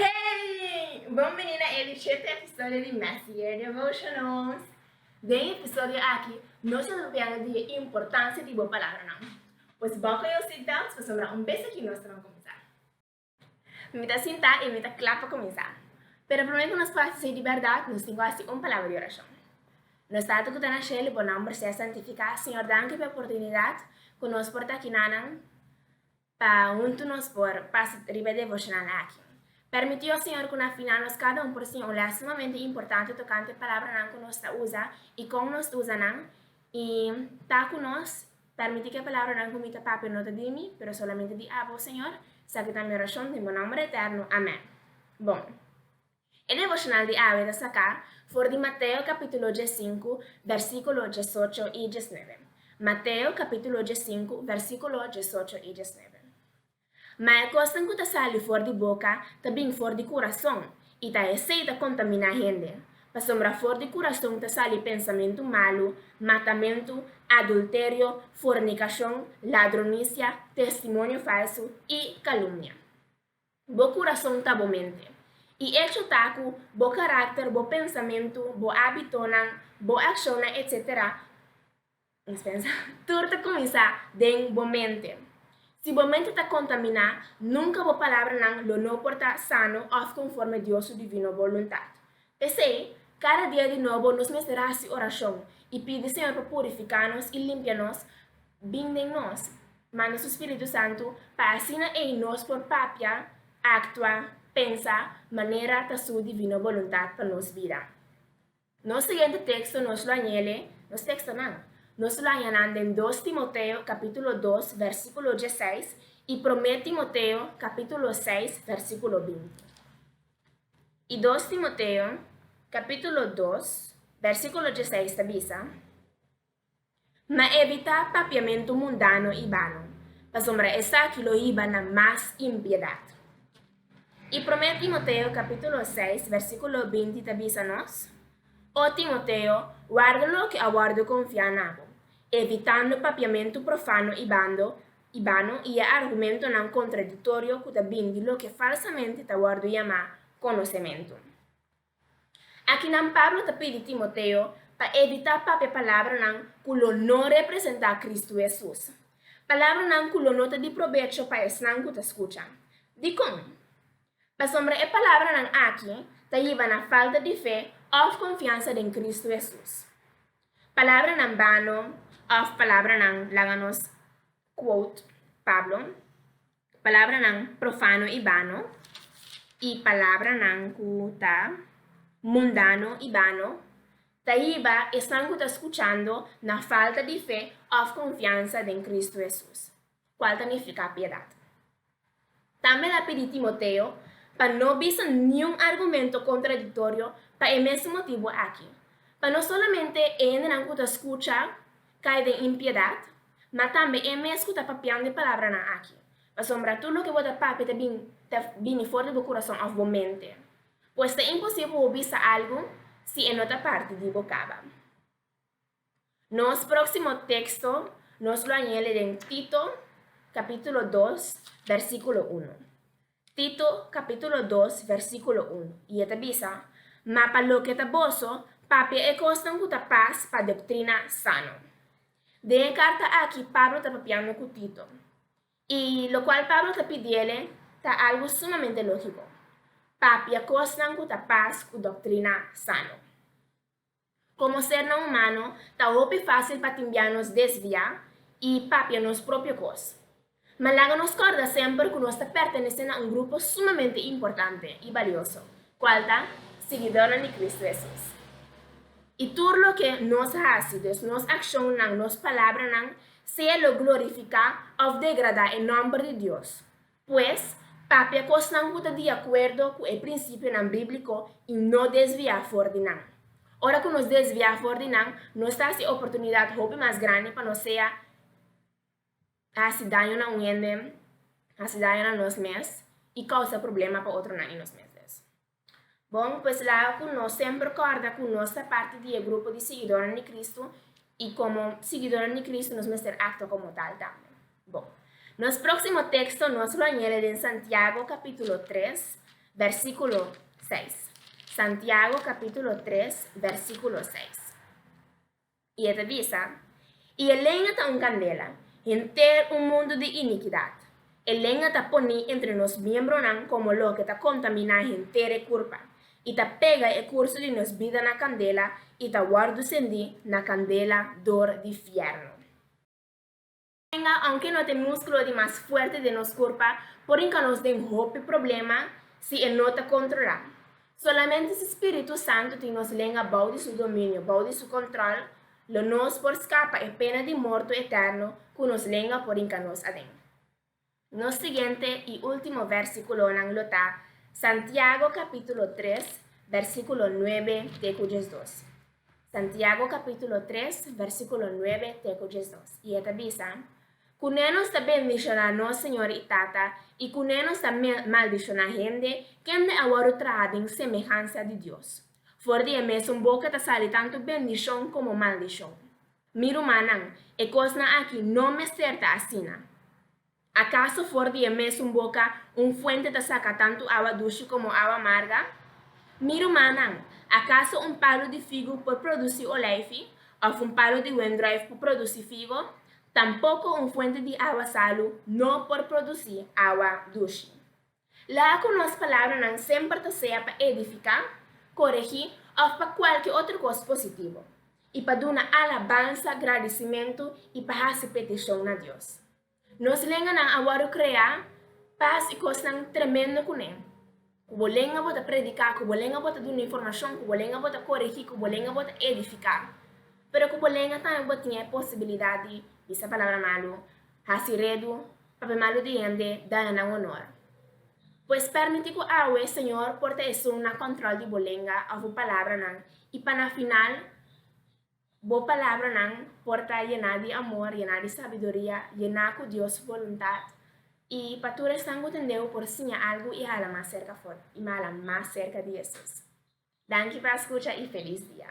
Hey! Bon bini na e reciente episodio di Messier Devotionals. Den e episodio aki, nos ta hablando di e importancia di bo palabranan. Pues buckle your seatbelts pasobra un bes aki nos ta na cuminsa. Mi ta sinta y mi ta cla pa cuminsa. Pero prome cu nos por haci así di berdad, nos tin cu haci un palabra di oracion. Nos Tata cu ta na Shel, bo nomber sea santifica. Señor, danki pa e oportunidad cu nos por ta aki nanan. Pa huntu nos por pasa riba e devoshonan aki. Permití, ó Señor, ku na final nos kada un por siña un lès sumamente importante tokante e palabranan ku nos ta usa i kon nos ta usa nan, i ta ku nos permití ku e palabranan ku mi ta papia no ta di mi, pero solamente di abo, Señor. Esaki ta mi orashon den bo nòmber eterno. Amèn. Bon. E devocional di awe ta saká for di Mateo capítulo diesinku, versículo diesocho i diesnuebe. Mateo capítulo diesinku, versículo diesocho i diesnuebe. Ma e kosnan ku ta sali for di boka ta bin for di kurason, i ta esei ta kontaminá hende. Pasobra for di kurason ta sali pensamentu malu, matamentu, adulterio, fornikashon, ladronisia, testimonio falsu i kalumnia. Bo kurason ta bo mente. E echo ta ku bo karakter, bo pensamentu, bo ábitonan, bo akshonnan etc. Tur ta kuminsá den bo mente. Si bo mente ta kontaminá, nunka bo palabranan lo no por ta sano òf konforme Dios su divino boluntat. P'esei, kada dia di nobo nos mester hasi orashon i pidi Señor pa purifiká nos i limpia nos bin den nos. Manda su spiritu santu pa asina ei nos por papia, aktua, pensa manera ta su divino boluntat pa nos bida. Nos siguiente teksto nos lo a ñele nos tekstonan. Nos lo a haña nan den Dos Timoteo kapítulo dos, vèrsikulo diesseis i Promé Timoteo kapítulo seis, vèrsikulo binti. I dos Timoteo capítulo dos, versículo diesseis ta bisa, Ma ebitá papiamentu mundano i balo, pasobra esaki lo hiba na mas impiedat. I Promé Timoteo capítulo seis, versículo binti ta bisa nos, O Timoteo, warda loke a wòrdu confiá na bo, evitando papiamentu profano i bando, i bano i e argumentonan kontradiktorio ku ta bini di loke falsamente ta wòrdu yamá konosementu. Akinan Pablo ta pidi Timoteo pa evitá papia palabranan ku lo no representá Kristu Hesus, palabranan ku lo no ta di probecho pa esnan ku ta skucha. Dikon? Pasobra e palabranan akí ta yiba na falta di fe òf konfiansa den Kristu Hesus. Palabranan bano òf palabranan, laga nos quote Pablo, palabranan profano i bano i palabranan ku ta mundano i bano ta hiba esnan ku ta skuchando na falta di fe òf konfiansa den Kristu Hesus. Cual ta nifica piedad. Tambe el a pidi Timoteo pa no bisa niun argumento contradictorio pa e mes motibu aki, pa no solamente e hendenan cu ta scucha cay den impiedad, ma tambe e mes cu ta papian di e palabranan aki, pasobra tur loke bo ta papia ta bini ta bini for di bo curason of bo mente. Pues ta imposible pa bo bisa algu si e no ta parti di bo caba. Nos próksimo teksto nos lo a ñele den Tito kapítulo dos, bèrsikulo unu. Tito kapítulo dos, bèrsikulo unu, i e ta bisa, Ma pa loke ta boso, papia e kosnan ku ta pas pa doktrina sano. Den e karta aki Pablo ta papiando ku Tito, i lokual Pablo ta pidi el'e ta algu sumamente lógiko, Papia kosnan ku ta pas ku doktrina sano. Komo sernan humano, ta hopi fásil pa timbiá nos desviá i papia nos propio kos. Ma laga nos kòrda semper ku nos ta pertenesé na un grupo sumamente importante i balioso, kual ta siguidónan di Kristu Hesus. I tur loke nos hasi, des nos akshonnan, nos palabranan, sea lo glorifiká òf degradá e nòmber di Dios, Pues, papia kosnan ku ta di akuerdo ku e prinsipionan bíbliko i no desviá for di nan. Ora ku nos desviá for di nan, nos ta hasi oportunidat hopi mas grandi pa nos sea hasi daño na un hende, hasi daño na nos mes i kousa problema pa otronan i nos mes. Bon, pues laga cu nos semper corda cu nos ta parti di e grupo di siguidornan di Cristo y como siguidornan di Cristo nos mester actua como tal tambe. Bon, nos proximo texto nos lo a yere den Santiago capitulo tres, versiculo seis. Santiago capitulo tres, versiculo seis. I e ta bisa, I e lenga ta un kandela, henter un mundu di inikidat. E lenga ta poní entre nos miembronan komo loke ta kontaminá henter e kurpa, i ta pega e kurso di nos bida na kandela i ta wòrdu sendí na kandela dor di fièrnu. Tenga, Aunke no ta e múskulo di mas fuerte den nos kurpa, por hinka nos den hopi problema si e no ta kontrolá. Solamente si spiritu santu tin nos lenga bou di su dominio, bou di su kontròl, lo nos por skapa e pena di morto eterno ku nos lenga por hinka nos aden. Nos siguiente i ultimo versikulonan lo ta Santiago kapítulo tres, versikulo nuebe te ku diesdos. Santiago kapítulo tres, versikulo nuebe te ku diesdos, i e ta bisa, Kuné nos ta bendishoná nos Señor i Tata, i kuné nos ta maldishoná hende kende a wòrdu traha den semehansa di Dios? For di e mesun boka ta sali tantu bendishon komo maldishon. Mi rumannan, e kosnan aki no mester ta asina. Akaso for di e mesun boka un fuente ta saka tantu awa dushi komo awa amarga? Mi rumannan, akaso un palu di figu por produsi olijfi, òf un palu di wendruif por produsi figo? Tampoko un fuente di awa salu no por produsi awa dushi. Laga ku nos palabranan semper ta sea pa edifiká, koregí òf pa kualke otro kos positivo, i pa duna alabansa, gradisimentu i pa hasi petishon na Dios. Nos lenganan a wòrdu kreá pas i kosnan tremendo kuné. Ku bo lenga bo ta prediká, ku bo lenga bo ta duna informashon, ku bo lenga bo ta koregí, ku bo lenga bo ta edifiká. Pero ku bo lenga tambe bo tin e posibilidat di bisa palabra malu, hasi redu, Papia malu di hende daña nan honor. Pues permiti cu awe, Señor, por ta esun na control di bo lenga of bo palabranan, y pa na final bo palabranan por ta yena di amor, yena di sabiduria, yena cu Dios voluntad, y pa tur esnan cu tendeu por siña algu y hala mas cerca for, y hala mas cerca di Jesus. Danki pa scucha y feliz dia.